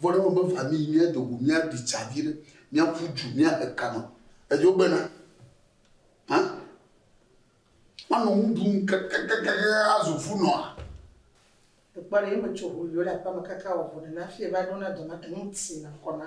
Vɔ ne mebe va mí yi mía do go mía ɖi tsa viɖe, mía ƒu dju, mía he ka nɔ edzo gbe na. Hã? Mía nɔ nu ɖum kakakakaka azu fu nɔ a? Ekpɔ ɖe ye me tso ho yio le aƒe me kaka wɔ vo ɖe na fie va ɖo na dɔ na enu ti na kɔ na.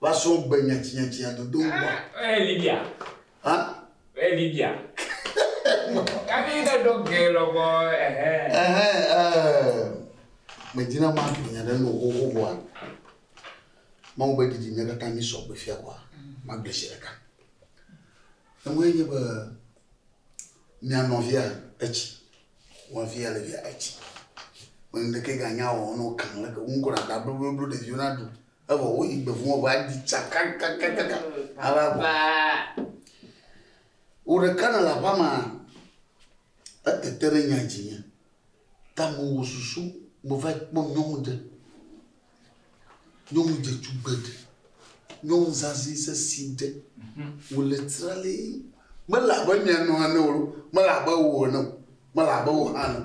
Va srɔ̃ gbe nyatsinyatsinya dodo ŋkua. Ee Libya. Hã? Ee Libya. Kafi ne ɖo ge lɔbɔ ehe. Ehe ee. Medina ma tu nya ɖe no xoxo vɔa. Mawu be didi mía katã mi sɔ gbe fia kɔa. Ma gbe si ɖeka. Eŋue nye be mia nɔvia etsi. Wa via le via etsi. Mene ɖeke ga nya o no kan le ke ŋkɔ na da blu blu ɖeviwo na du. Evɔ woyi gbe vɔ̃ va ɖi tsa kakakakaka ava vɔ. Wò ɖeka nèle aƒea mea, etete ɖe nya dzi nye. Ta mewɔ susu meva yi kpɔ nyɔnu ɖe. Nyɔnu dzetugbe ɖe. Nyɔnu zazɛ̃ sesɛ̃e ɖe. Wòle tralii. Mele abe mia nɔ ene o loo, mele abe wò ene o, mele abe wò hã ene o.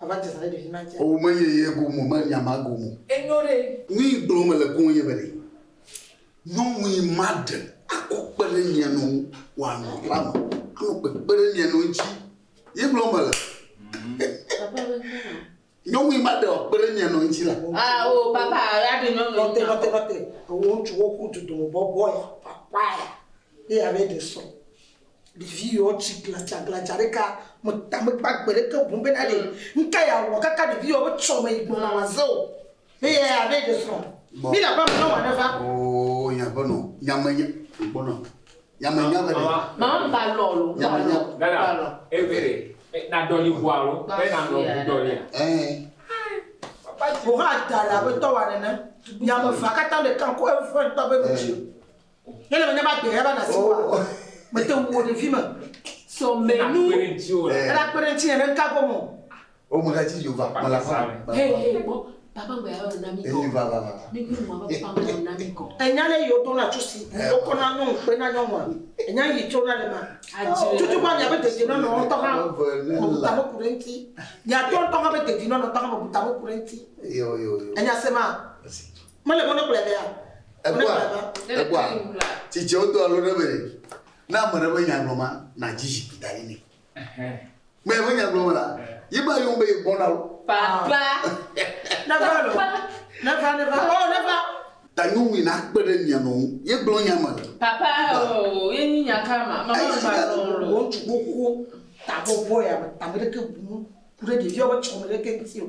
Ava dzesa ɖe ɖevi ma dzi. Owu me nye ye gomo me nya ma gomo. Enyo ɖe. Nui gblɔ me le koe nye be ɖe nyɔnu yi ma ɖe akɔ kpe ɖe mia nu wa nɔ la me anɔ kpekpe ɖe mia nu ŋuti ye gblɔ me le. Nyɔnu yi ma ɖe akpe ɖe mia nu ŋuti la. Ah o oh, papa ya ɖe nyɔnu. Nɔte nɔte nɔte. Ewo ŋutsu wo ku dudu bɔbɔ ya papa ya. Ye ya be ɖe sɔ. Ɖevi yewo tsi gladzagladza ɖeka me ta mekpɔ agbe ɖeke o boŋ bena ɖe nuka yeawɔ kaka ɖevi yewo be tsɔ me yi gbɔ nawɔ aze o. Eya ya abe ɖe srɔ̃. Mi le aƒea me ne wɔ aɖe va. Oo nya be nɔ nya me nya gbɔ nɔ nya me nya be ɖe. Mama ba lɔ lo ba lɔ ba lɔ. Ebe ɖe na dɔli ʋua lo be na nɔ ʋu dɔlia. Ɛɛ. Wohã da le abe tɔwa nene. Nya me va katã ɖeka ko eŋfɔe ŋtɔ be nu dzi. Ele be ne va gbe ya va na si wa. Oh. Mete ŋu wo ɖevi me. So me Ena nu. kpe ɖe ŋuti o. Eh. Ela kpe ɖe ŋuti ne ɖe ŋka kɔ mɔ. O me ga ti yo va kpɔ la fa. Hey hey bɔ papa ŋgbe ya va na mi kɔ. Eyi va va va. Mi mi mɔ be papa ŋgbe na mi kɔ. Enya le yo do na tso si. Eh. O kɔ na nɔ ŋkpe na nyɔnua. Enya yi tso na le ma. Adze. Tutu ba mia be dede nɔ nɔ ŋtɔ ha. Eve ne la. Buta me ku ɖe ŋuti. Mia tɔ ŋtɔ ha be dede nɔ nɔ ŋtɔ ha me buta me ku ɖe ŋuti. Yo yo yo. Enya se ma. Esi. Mele be wonekplɔe vɛ hã. Ekpɔa, ekpɔa, tsitsiawo doa lo ɖe be ne ame ɖe be nya gblɔ ma, nàdzi zikpui da ɖi nɛ. Mea be nya gblɔ me la, ye ma yɔm be ye gbɔna o. Papa. Neva lo. Neva, neva. Oh, neva. Ta nyɔnui nakpe ɖe mia nɔ ŋu. Ye gblɔ nya me. Papa, oh, ye nyi nya ka ma? Mama ŋgba gblɔ ŋu lo. Ŋutsu gbogbo, ta bɔbɔ ya me, ame ɖeke bu nu ku ɖe ɖeviawo be tsɔ me ɖeke ŋuti o.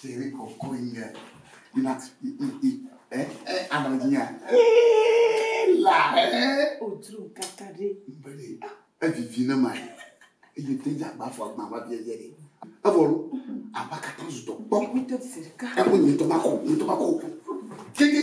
Seri kɔkɔe nye na i i i ɛ ɛ anɔ dzi nya ee la ɛ. O dro kaka ɖe. Mbele evivi ne ma ye eye te dza gba fɔ agba va bia yɛ de. Evɔ lo aba kata zutɔ kpɔ. Eku te seri ka. Eku nyitɔ ma ko nyitɔ ma ko. Kiki.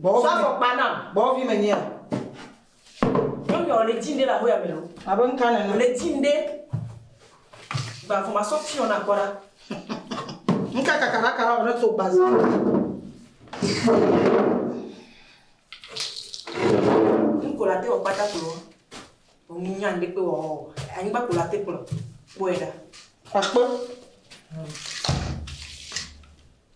Gbɔwɔ Sɔ afɔkpa nam. Gbɔwɔ vi menye o. Nyɔnua wòle dzim ɖe le ahoya me o. Abe ŋka nene. Wòle dzim ɖe. Gba vɔ masɔ fiɔ na kpɔ ɖa. Ŋka kaka ɖaka la wòle to gba za. Ŋko la te wɔ kpata kplɔ. Wònyi nya ŋɖe kpe wɔ wɔ. Anyigba kpo la te kplɔ. Kpɔe ɖa. Akpɔ. Hmm.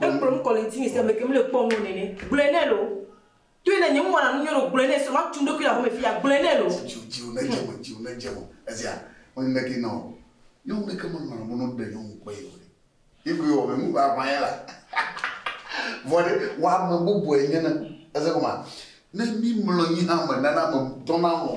Ekplɔ nu kɔ le ŋtinye se ameke mele kpɔ nuo nene. Gblɔe nɛ loo. Toe ne nye nu wɔna nu nyuiɖe o gblɔe nɛ srɔ̃ ma tu ŋɖokui le aƒeme fiya gblɔe nɛ loo. Dziwò dziwò ne dze me dziwò ne dze me ezea mele neke na o nyɔnu ɖeke me lɔna mɔno ɖe nyɔnu kpɔ ye o ɖe ye koe wɔ me nu ʋaʋã ye la vɔ ɖe wɔ ame bɔbɔe nye na eze gɔma ne mi mlɔ nyi hã me nana me dɔna lɔ̃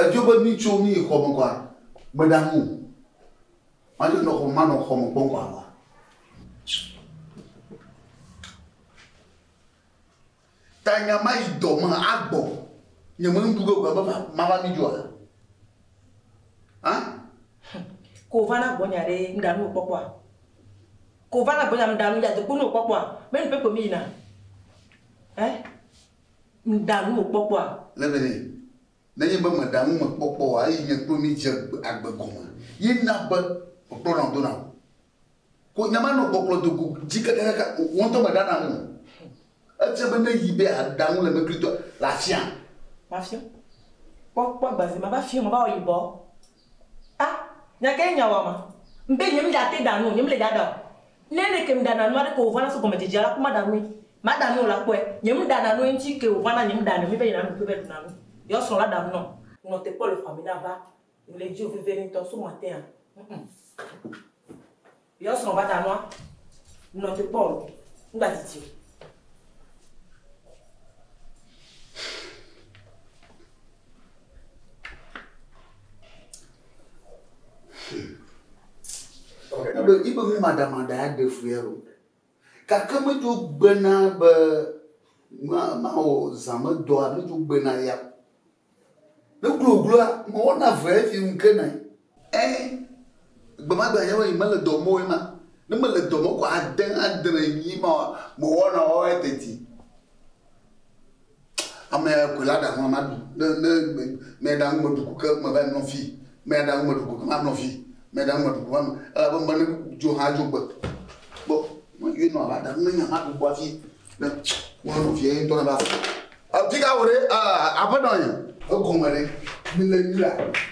Edzo be mí tso mí yi xɔ me kɔa, meda ŋu o. Madzo nɔ xɔ, manɔ xɔ me kpɔm kɔ ava. Ta nya ma yi dɔ me agbɔ. Nye me nuɖu ge gbe me mava mí dzoa? Hã? Ko va na gbɔnye aɖe mɖa nu kpɔkpɔa? Ko va na gbɔnye mɖa nu ya dokpo nu kpɔkpɔa? Mɛ nu pɛpɛ mí yina? Hɛ? Ŋda nu wò kpɔkpɔa? Le be nɛ. Nenye be mèɖa nu me kpɔkpɔ oa, eyi nye kple mi dze agbe gɔme ye na be mekplɔ na wò do na wò. Ko nyamanɔ kpɔkplɔ do go dzi kakakaka o, wò ŋutɔ mèɖa na nu me. Efia be ne yi be yeaɖa nu le eme klitoa, le afia. Mafia. Kpɔ, kpɔ agba zi mava fia mava wɔ yibɔ. A, nya kae nya wama? Ŋbe nyemda te ɖa nu o, nyemle ɖa ɖa o. Ne ɖeke mdana nu aɖeke wòvana so gɔmedzedzea la ko mada nue. Mada nu o la, kpɔe, nye mdana nu eŋtsi ke wòvana nye mɖa nue be yina ɖuƒe be ɖuna nu. Yeɔ srɔ̃ la ɖa nu nɔm. Nɔ te kpɔ le xɔa me na va le dziwò vevie ŋtɔ so matin a ŋm. Yeɔ srɔ̃ va ɖa nua. Nɔ te kpɔ o. Mgba didi o. Ebe ibe nu maɖamaɖa aɖe fue o. Gake medzo gbena be mawɔ zã me dɔa medzo gbena ya. Ne glogloa mewɔna vea efi ŋu ke nɛ. Ẽ, gbemagbe nye be mele dɔ mɔwo ema. Ne mele dɔ mɔ ko ade adre nyi ma mewɔna wo eteti. Ame koe la ɖa ŋua maɖu. Ne ne me me ɖa ŋu meɖu ko ke me va yi nɔ fi. Me ɖa ŋu meɖu ko ke ma nɔ fi. Me ɖa ŋu meɖu ko va nɔ. Elabe me ne dzo hã dzo gbe. Gbɔ me yɔe nɔ va ɖa ŋu ne nya ma ɖu kpɔ afi. Ne wọn nɔvia ye ŋutɔ nava se. Efi ka wò ɖe aƒenɔ ye. Egɔme ɖe mi le nyuia.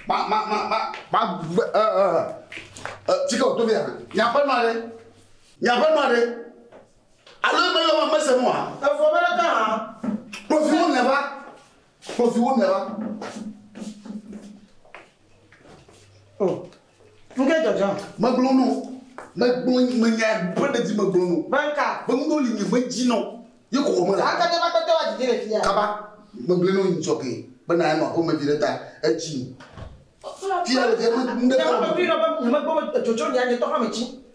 Ma ma ma ma ma gbe ɛ ɛ ɛ fi ka wòto via. Nye aƒenɔ ɖe nye aƒenɔ ɖe alo ebe yɔ me mese nua. Efu ame ɖeka hã. Kpɔvi wo nɔe va kpɔvi wo nɔe va. Oh. Ŋke dzɔdzɔ. Megblɔ nɔ. Megblɔ nyi menya ƒe ɖedi megblɔ nɔ. Be ŋka. Be ŋɖewo li nye medzi nɔ ye kɔkɔ me le ha. Ŋkete makpete wa dzidzi le fia. Kaba megblɔe nɔ nyi dzɔge be na nɔ aƒeme viɖe ta edzi nyi. Fia le fia me ŋɖe kɔ. Nye me megblɔe nɔ be nye megblɔ be edzodzonya nye tɔ hame dzi.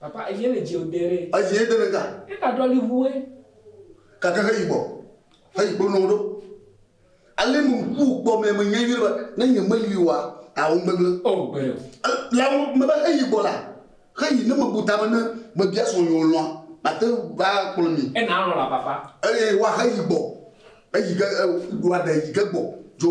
Papa eviɛ le djeo de ɖe. Eviɛ de ɖe ga. Ega ɖɔ li ʋu e. Gake he yibɔ he yi kpo nɔwo ɖo. Ale me ŋku kpɔ mɛ me nyɛ nyuie ɖe be ne nye me li oa awo ŋgbegble. O gbe ɖe o. La wo me be he yi gbɔ la he yi ne me bu ta be ne me bia srɔ̃ nyeo lɔa ma te va kplɔ mi. E na lɔ̃ la papa. Eye wa he yi gbɔ. Eyi ge e wa ɖe yi ge gbɔ dzo.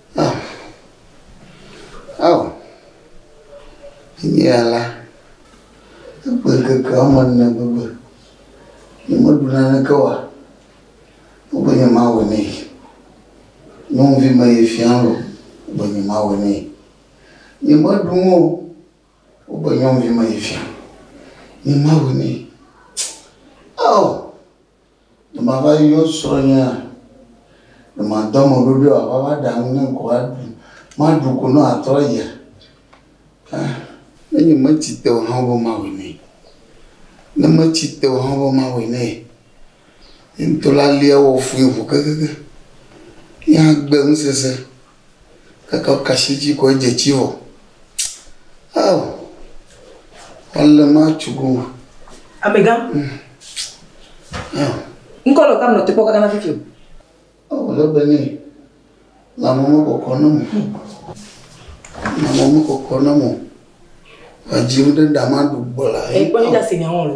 Ah. Oh. Nyea la, egbe ŋkeke woame ene gbegbe. Nyemeɖu naneke wa. Wogbe nye ma wɔ nɛ. Nyɔnuvi me ye fia lo. Wogbe nye ma wɔ nɛ. Nyemeɖu ŋo. Wogbe nyɔnuvi me ye fia. Nye ma wɔ nɛ. Oh. Ne mava yɔ srɔ̃nyea, ɖe mado ame ɖoɖoe wòava va ɖa nu nam kɔa? Maɖu ko ne wòatrɔ ayia? Aa, ne nyemetsi te o hã be mawɔe nɛ. Ne metsi te o hã be mawɔe nɛ. Ye ŋutɔ la lia wɔ fũu ŋu kekeake. Ye hã gbe ŋusese Gake woka asi edzi kɔ edze tsi vɔ. Ao ele match go. Amegã. Ao. Ŋkɔ le kam nɔ te kpɔ kaka na fifi. Ao le be ni. La mo mo koko no mo. La mo mo koko no mo. Adzi wo de dama du bola. E kpɔ ni da se nya wo le.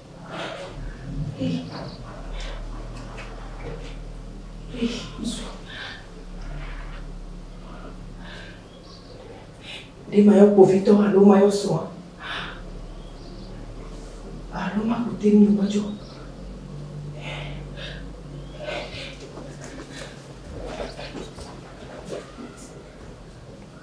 ɖe mayɔ kpovitɔ alo mayɔ srɔ̃a alo makute nu medzɔ